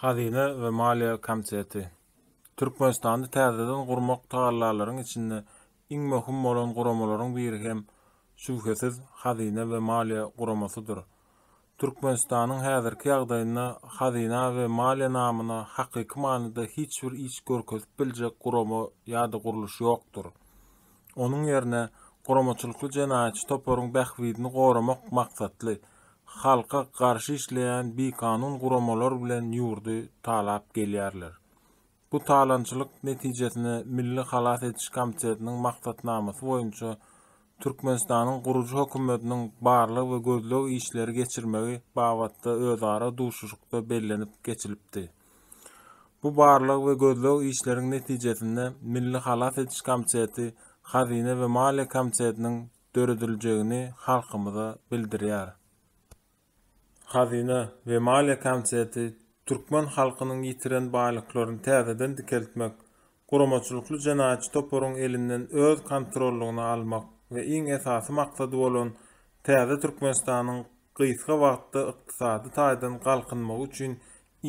Hazyna we maliýe komiteti, Türkmenistany täzeden gurmak tagallalaryň içinde iň möhüm bolan guramalaryň biri hem, şübhesiz, Hazyna we maliýe guramasydyr. Türkmenistanyň häzirki ýagdaýynda hazyna we maliýe namyna hakyky manyda hiç bir iş görkezip biljek gurama ýa-da gurluş ýokdur. Onuň ýerine guramaçylykly jenaýatçy toparyň bähbidini goramak maksatly, halka garşy işleýän bikanun guramalar bilen ýurdy talap gelýärler. Bu talaňçylyk netijesinde Milli halas ediş komitetiniň maksatnamasy boýunça Türkmenistanyň gurujy hökümetiniň barlag we gözleg işleri geçirmegi babatda özara duşuşykda bellenip geçilipdi. Bu barlag we gözleg işleriň netijesinde Milli halas ediş komiteti, Hazyna we maliýe komitetiniň dörediljegini halkymyza bildirýär. Hazyna we maliýe komiteti türkmen halkynyň ýitiren baýlyklaryny täzeden dikeltmek, guramaçylykly jenaýatçy toparyň elinden öz kontrollygyna almak we iň esasy maksady bolan täze Türkmenistanyň gysga wagtda ykdysady taýdan galkynmagy üçin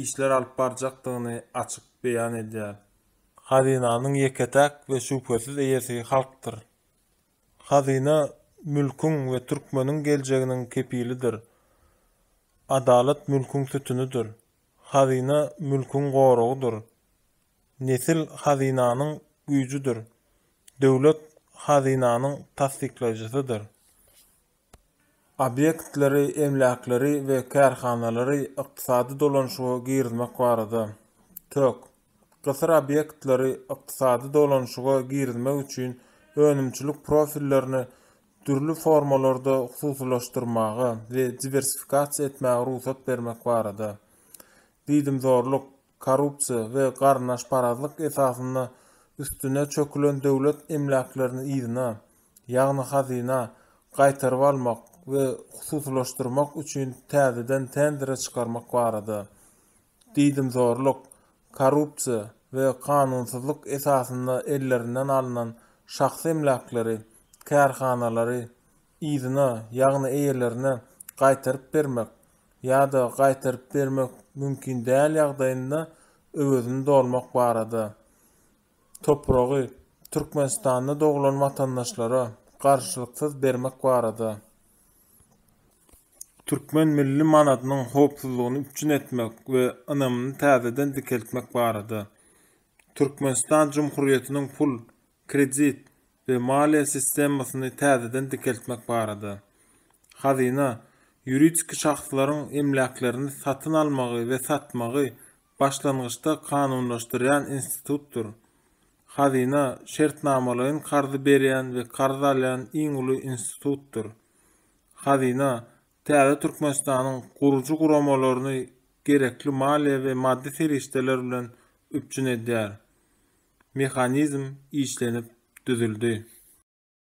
işler alyp barjakdygyny açyk beýan edýär. Hazynanyň ýeke-täk we şübhesiz eýesi halkdyr. Hazyna mülküň we türkmeniň geljeginiň kepilidir. Adalat mülküň sütünidir. Hazyna mülküň goragydyr. Nesil hazynanyň güýjüdir. Döwlet hazynanyň tassyklaýjysydyr. Obýektleri, emläkleri we kärhanalary ykdysady dolanyşyga girizmek barada, tök. Gysyr obýektleri ykdysady dolanyşyga girizmek üçin önümçilik profillerini dürli formalarda hususylaşdyrmaga we diwersifikasiýa etmäge rugsat bermek barada, diýdimzorluk, korrupsiýa we garyndaşparazlyk esasynda üstüne çökülen döwlet emläklerini yzyna, ýagny hazyna, gaýtaryp almak we hususylaşdyrmak üçin täzeden tendere çykarmak barada, diýdimzorluk, korrupsiýa we kanunsyzlyk esasynda ellerinden alnan şahsy emläkleri, kärhanalary, yzyna, ýagny eýelerine gaýtaryp bermek, ýa-da gaýtaryp bermek mümkin däl ýagdaýynda öwezini dolmak barada topragy Türkmenistanda doglan watandaşlara garşylyksyz bermek barada türkmen milli manadynyň howpsuzlygyny üpjün etmek we ynamyny täzeden dikeltmek barada Türkmenistan Jumhurýetiniň pul kredit we maliýe sistemasyny täzeden dikeltmek barada, Hazyna, ýuridik şahslaryň emläklerini satyn almagy we satmagy başlangyçda kanunlaşdyrýan institutdyr. Hazyna şertnamalaýyn karzy berýän we karz alýan iň uly institutdyr. Hazyna Täze Türkmenistanyň gurujy guramalaryny gerekli maliýe we maddy serişdeler bilen üpjün edýär. Mehanizm işlenip düzüldi.